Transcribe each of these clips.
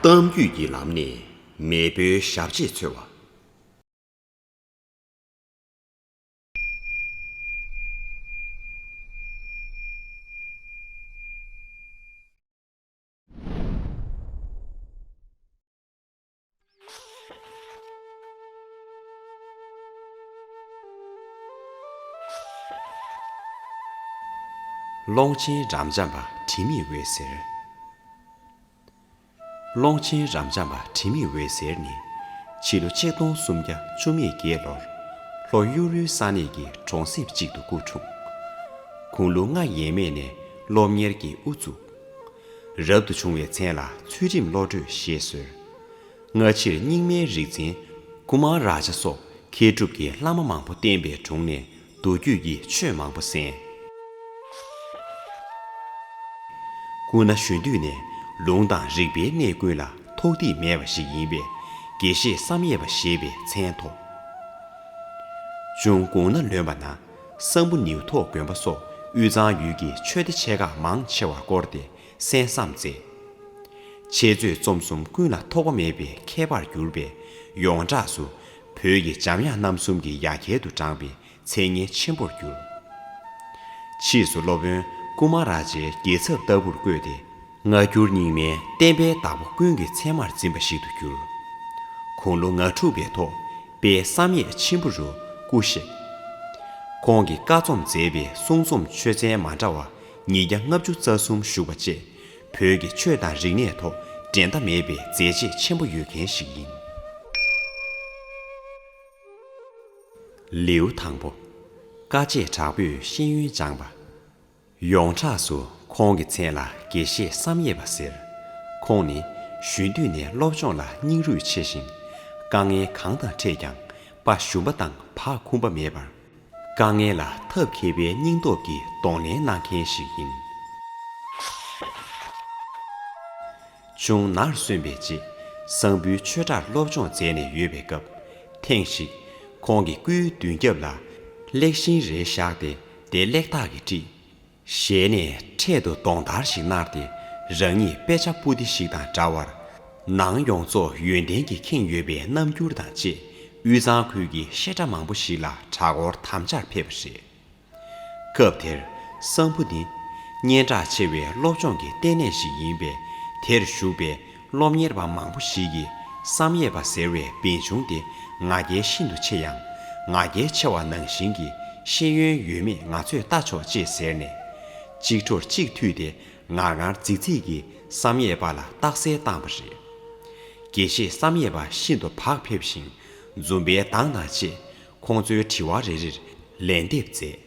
གཏམ་རྒྱུད་ཀྱི་ལམ་ནས་མེས་པོའི་ཞབས་རྗེས་འཚོལ་བ། ཀློང་ཆེན་རབ་འབྱམས་པ་དྲི་མེད་འོད་ཟེར། ཀློང་ཆེན་རབ་འབྱམས་པ་དྲི་མེད་འོད་ཟེར་ནི། ཕྱི་ལོ་ཆིག་སྟོང་སུམ་བརྒྱ་བཅུ་མེད་བརྒྱད་ལོར། ལྷོ་གཡུ་རུའི་ས་གནས་ཀྱི་གྲོང་གསེབ་ཅིག་ཏུ་སྐུ་འཁྲུངས། གུང་ལུགས་ལྔ་ཡས་མས་ནས་སློབ་གཉེར་གྱི་དབུ་བཙུགས། རབ་ཏུ་བྱུང་བའི་མཚན་ལ་ཚུལ་ཁྲིམས་བློ་གྲོས་ཞེས་ཟེར། སྔ་ཕྱིར་རྙིང་མའི་རིག་འཛིན་ཀུ་མཱ་རཱ་ཇཱ་སོགས་མཁས་གྲུབ་ཀྱི་བླ་མ་མང་པོ་བསྟེན་པའི་དྲུང་ནས་མདོ་རྒྱུད་ཀྱི་ཆོས་མང་པོ་གསན། སྐུ་ན་གཞོན་དུས་ནས་ལུང་དང་རིགས་པའི་གནས་ཀུན་ལ་ཐོགས་ཐིག་མེད་པ་ཞིག་ཡིན་པས་དགེ་བཤེས་བསམ་ཡས་པ་ཞེས་པའི་མཚན་ཐོགས། ཅུང་དགུང་ན་ལོན་པ་ན། གསང་ཕུ་ནེའུ་ཐོག་དགོན་པ་སོགས་དབུས་གཙང་ཡུལ་གྱི་ཆོས་སྡེ་ཆེ་ཁག་མང་ཆེ་བ་བསྐོར་ཏེ་གསན་བསམ་མཛད། འཆད་རྩོད་རྩོམ་གསུམ་ཀུན་ལ་ཐོགས་པ་མེད་པའི་མཁས་པར་གྱུར་པས་ཡོངས་གྲགས་སུ་བོད་ཀྱི་འཇམ་དབྱངས་རྣམ་གསུམ་གྱི་ཡ་གྱལ་དུ་བགྲངས་པའི་མཚན་སྙན་ཆེན་པོར་གྱུར། ཕྱིས་སུ་སློབ་དཔོན་ཀུ་མཱ་རཱ་ཇའི་རྒྱལ་ཚབ་ལྟ་བུར་བསྐོས་ཏེ། སྔ་འགྱུར་རྙིང་མའི་བསྟན་པའི་བདག་པོ་ཀུན་གྱི་ཚད་མར་འཛིན་པ་ཞིག་ཏུ་གྱུར། དགུང་ལོ་ང་དྲུག་པའི་ཐོག་དཔལ་བསམ་ཡས་མཆིམས་ཕུ་རུ་སྐུ་གཤེགས། ཁོང་གིས་བཀའ་རྩོམ་མཛད་པའི་གསུང་རྩོམ་ཆོས་ཚན་མ་འདྲ་བ་ཉིས་བརྒྱ་ལྔ་བཅུ་རྩ་གསུམ་བཞུགས་པ་བཅས་བོད་ཀྱི་ཆོས་དང་རིག་གནས་ཐོག་འགྲན་ཟླ་མེད་པའི་མཛད་རྗེས་ཆེན་པོ་ཡོད་མཁན་ཞིག་ཡིན། ལེའུ་དང་པོ། དཀའ་སྤྱད་དྲག་པོས་ཤེས་ཡོན་སྦྱངས་པ། ཡོངས་གྲགས་སུ་ཁོང་གི་མཚན་ལ་དགེ་བཤེས་བསམ་ཡས་པ་ཟེར། ཁོང་ནི་གཞོན་དུས་ནས་སློབ་སྦྱོང་ལ་སྙིང་རུས་ཆེ་ཞིང། དཀའ་ངལ་གང་དང་འཕྲད་ཀྱང་དཔའ་ཞུམ་པ་དང་བག་འཁུམ་པ་མེད་པར། དཀའ་ངལ་ལ་ཐབས་མཁས་པའི་སྙིང་སྟོབས་ཀྱིས་གདོང་ལེན་གནང་མཁན་ཞིག་ཡིན། ཅུང་ནར་སོན་པའི་རྗེས་གསང་ཕུའི་ཆོས་གྲྭར་སློབ་སྦྱོང་མཛད་ནས་ཡོད་པའི་སྐབས། ཐེངས་ཤིག་ཁོང་གི་སྐུའི་མདུན་རྒྱབ་ལ་གླེགས་ཤིང་རེ་བཞག་སྟེ་བདེ་གླེགས་དག་གིས་དཀྲིས། ཞལ་ནས་འཕྲེད་དུ་གདོང་དར་ཞིག་མནར་ཏེ་རང་ཉིད་དཔེ་ཆ་སྤུ་ལྡེ་ཞིག་དང་འདྲ་བར། ནང་ཡོངས་རྫོགས་ཡོན་ཏན་གྱིས་ཁེངས་ཡོད་པའི་རྣམ་འགྱུར་དང་བཅས་དབུས་གཙང་ཁུལ་གྱི་བཤད་གྲྭ་མང་པོ་ཞིག་ལ་གྲྭ་སྐོར་དམ་བཅར་ཕེབས་པ་རེད། སྐབས་དེར་གསང་ཕུ་ནི་སྙན་གྲགས་ཆེ་བའི་སློབ་སྦྱོང་གི་ལྟེ་གནས་ཤིག་ཡིན་པས་དེར་བཞུགས་པའི་སློབ་གཉེར་བ་མང་པོ་ཞིག་གིས་བསམ་ཡས་པ་ཟེར་བའི་བན་ཆུང་དེ་ང་རྒྱལ་ཤིན་ཏུ་ཆེ་ཡང། ང་རྒྱལ་ཆེ་བ་ནང་བཞིན་གྱི་ཤེས་ཡོན་ཡོད་མེད་ང་ཚོས་བལྟ་ཆོག་ཅེས་ཟེར་ནས། གཅིག་འཕྲོར་གཅིག་མཐུད་དེ་ངར་ངར་རྫིག་རྫིག་གིས་བསམ་ཡས་པ་ལ་རྟགས་གསལ་བཏང་བ་རེད། དགེ་བཤེས་བསམ་ཡས་པ་ཤིན་ཏུ་བག་ཕེབས་ཤིང་འཛུམ་པའི་མདངས་དང་བཅས་ཁོང་ཚོའི་དྲི་བ་རེ་རེར་ལན་འདེབས་མཛད།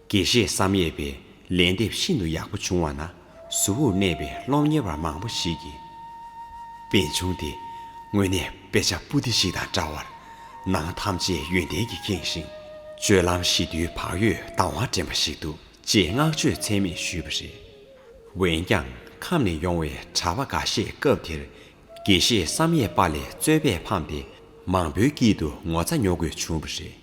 དགེ་བཤེས་བསམ་ཡས་པའི་ལན་འདེབས་ཤིན་ཏུ་ཡག་པོ་བྱུང་བ་ན་གཟུ་བོར་གནས་པའི་སློབ་གཉེར་བ་མང་པོ་ཞིག་གིས་དཔེ་ཆུང་དེ་དངོས་གནས་དཔེ་ཆ་སྤུ་ལྡེ་ཞིག་དང་འདྲ་བར་ནང་ཐམས་ཅད་ཡོན་ཏན་གྱིས་ཁེངས་ཤིང་སྤྱོད་ལམ་ཞི་དུལ་བག་ཡོད་དྭངས་བ་འདྲེན་པ་ཞིག་འདུག་ཅེས་བསྔགས་བརྗོད་ཚད་མེད་ཞུས་པ་རེད། འོན་ཀྱང་ཁམས་ནས་ཡོང་བའི་གྲྭ་པ་འགའ་ཤས་སྐབས་དེར་དགེ་བཤེས་བསམ་ཡས་པ་ལས་རྩོད་པས་ཕམ་སྟེ་མང་པོའི་དཀྱིལ་དུ་ངོ་ཚ་ཉོ་དགོས་བྱུང་བ་རེད།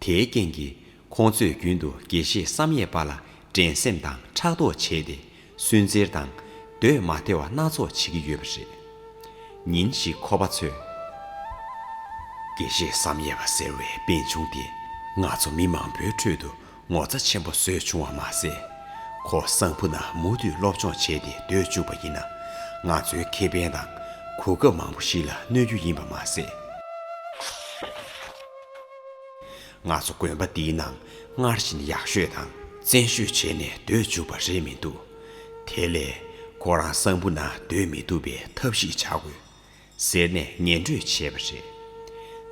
དེའི་རྐྱེན་གྱིས་ཁོང་ཚོས་རྒྱུན་དུ་དགེ་བཤེས་བསམ་ཡས་པ་ལ་འགྲན་སེམས་དང་ཕྲག་དོག་བྱས་ཏེ་སུན་གཙེར་དང། འདོད་མ་དེ་བ་སྣ་ཚོགས་བྱེད་ཀྱི་ཡོད་པ་རེད། ཉིན་ཞིག་ཁོ་པ་ཚོས། དགེ་བཤེས་བསམ་ཡས་པ་ཟེར་བའི་པན་ཆུང་དེ་ང་ཚོ་མི་མང་པོའི་ཁྲོད་དུ་ངོ་ཚ་ཆེན་པོ་བཟོས་བྱུང་བ་མ་ཟད། ཁོ་གསང་ཕུ་ན་མུ་མཐུད་སློབ་སྦྱོང་བྱས་ཏེ་སྡོད་བཅུག་པ་ཡིན་ན། ང་ཚོའི་ཁེ་ཕན་དང་གོ་སྐབས་མང་པོ་ཞིག་ལ་གནོད་རྒྱུ་ཡིན་པ་མ་ཟད། ང་ཚོ་དགོན་པ་འདིའི་ནང་སྔར་བཞིན་ཡག་ཤོས་དང་བཙན་ཤོས་བྱས་ནས་སྡོད་བཅུག་པ་རེད་མི་འདུག་དེ་ལས། ཁོ་རང་གསང་ཕུ་ན་སྡོད་མི་ཐུབ་པའི་ཐབས་ཤིག་བྱ་དགོས། ཟེར་ནས་ངན་འགྲོས་བྱས་པ་རེད།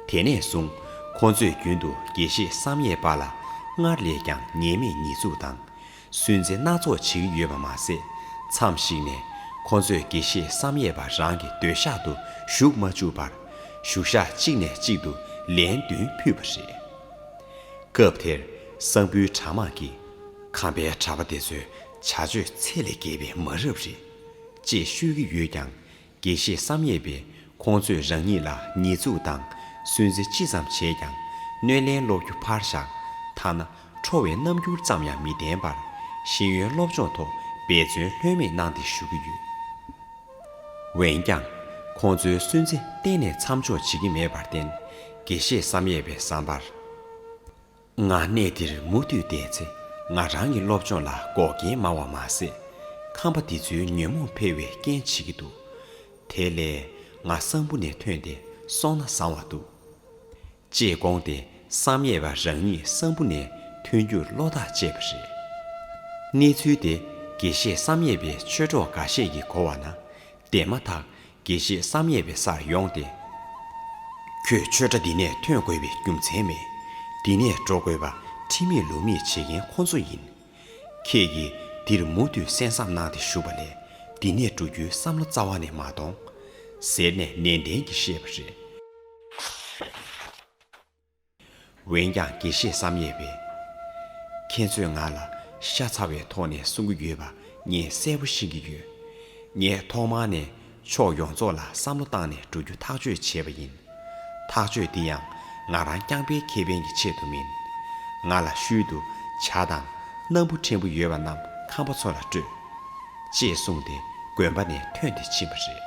དེ་ནས་བཟུང་ཁོ་ཚོས་རྒྱུན་དུ་དགེ་བཤེས་བསམ་ཡས་པ་ལ་སྔར་ལས་ཀྱང་ཉེས་མེད་ཉེས་འཛུགས་དང། སུན་གཙེ་སྣ་ཚོགས་བྱིངས་ཡོད་པ་མ་ཟད། མཚམས་ཤིག་ནས་ཁོ་ཚོས་དགེ་བཤེས་བསམ་ཡས་པ་རང་གི་སྡོད་ཤག་ཏུ་ཞུགས་མ་བཅུག་པར། བཞུགས་ཤག་གཅིག་ནས་གཅིག་ཏུ་ལན་བདུན་ཕུད་པ་རེད། སྐབས་དེར་གསང་ཕུའི་གྲྭ་མང་གིས། ཁམས་པའི་གྲྭ་པ་དེ་ཚོའི་བྱ་སྤྱོད་ཚད་ལས་བརྒལ་བའི་མ་རབས་རེད། ཅེས་ཤོད་ཀྱི་ཡོད་ཀྱང། དགེ་བཤེས་བསམ་ཡས་པས་ཁོང་ཚོས་རང་ཉིད་ལ་ཉེས་འཛུགས་དང་སུན་གཙེར་ཅི་ཙམ་བྱས་ཀྱང་གནོད་ལན་སློག་རྒྱུ་ཕར་བཞག་ཐ་ན་ཁྲོ་བའི་རྣམ་འགྱུར་ཙམ་ཡང་མི་བསྟན་པར་ཤེས་ཡོན་སློབ་སྦྱོང་ཐོག་འབད་བརྩོན་ལྷོད་མེད་གནང་སྟེ་ཞུ་གི་ཡོད། འོན་ཀྱང། ཁོང་ཚོའི་སུན་གཙེ་གཏན་ནས་མཚམས་འཇོག་བྱེད་ཀྱི་མེད་པར་བརྟེན་དགེ་བཤེས་བསམ་ཡས་པའི་བསམ་པར། ང་གནས་འདིར་མུ་མཐུད་བསྡད་ཚེ་ང་རང་གི་སློབ་སྦྱོང་ལ་འགོག་རྐྱེན་མང་བ་མ་ཟད། ཁམས་པ་འདི་ཚོའི་ཉོན་མོངས་འཕེལ་བའི་རྐྱེན་བྱེད་ཀྱི་འདུག་དེ་ལས་ང་གསང་ཕུ་ནས་ཐོན་ཏེ་སོང་ན་བཟང་བ་འདུག། ཅེས་དགོངས་ཏེ་བསམ་ཡས་པ་རང་ཉིད་གསང་ཕུ་ནས་ཐོན་རྒྱུར་བློ་ཐག་བཅད་པ་རེད། གནས་ཚུལ་དེ་དགེ་བཤེས་བསམ་ཡས་པའི་ཆོས་གྲོགས་འགའ་ཤས་ཀྱིས་གོ་བ་ན་བདེན་མ་ཐག་དགེ་བཤེས་བསམ་ཡས་པའི་སར་ཡོང་སྟེ། ཁྱོད་ཆོས་གྲྭ་འདི་ནས་ཐོན་དགོས་པའི་རྒྱུ་མཚན་མེད། འདི་ནས་འགྲོ་དགོས་པ་ཁྲིམས་མེད་ལུགས་མེད་བྱེད་མཁན་ཁོ་ཚོ་ཡིན། ཁྱེད་ཀྱིས་འདིར་མུ་མཐུད་གསན་བསམ་གནང་སྟེ་བཞུགས་པ་ལས་འདི་ནས་འགྲོ་རྒྱུའི་བསམ་བློ་རྩ་བ་ནས་མ་གཏོང། ཟེར་ནས་ནན་ཏན་གྱིས་བཤད་པ་རེད། འོན་ཀྱང་དགེ་བཤེས་བསམ་ཡས་པས། ཁྱེད་ཚོས་ང་ལ་ཤ་ཚ་བའི་ཐོག་ནས་གསུང་གི་ཡོད་པ་ངས་གསལ་པོ་ཤེས་ཀྱི་ཡོད། ངས་ཐོག་མང་ནས་ཕྱོགས་ཡོངས་རྫོགས་ལ་བསམ་བློ་བཏང་ནས་འགྲོ་རྒྱུ་ཐག་གཅོད་བྱས་པ་ཡིན། ཐག་གཅོད་འདི་ཡང་ང་རང་རྐྱང་པའི་ཁེ་ཕན་གྱི་ཆེད་དུ་མིན། ང་ལ་ཤུལ་དུ་བྱ་དང་སྣམ་བུ་ཕྲན་བུ་ཡོད་པ་རྣམས་ཁམས་པ་ཚོ་ལ་སྤྲོད། ཅེས་གསུངས་ཏེ་དགོན་པ་ནས་ཐོན་ཏེ་ཕྱིན་པ་རེད།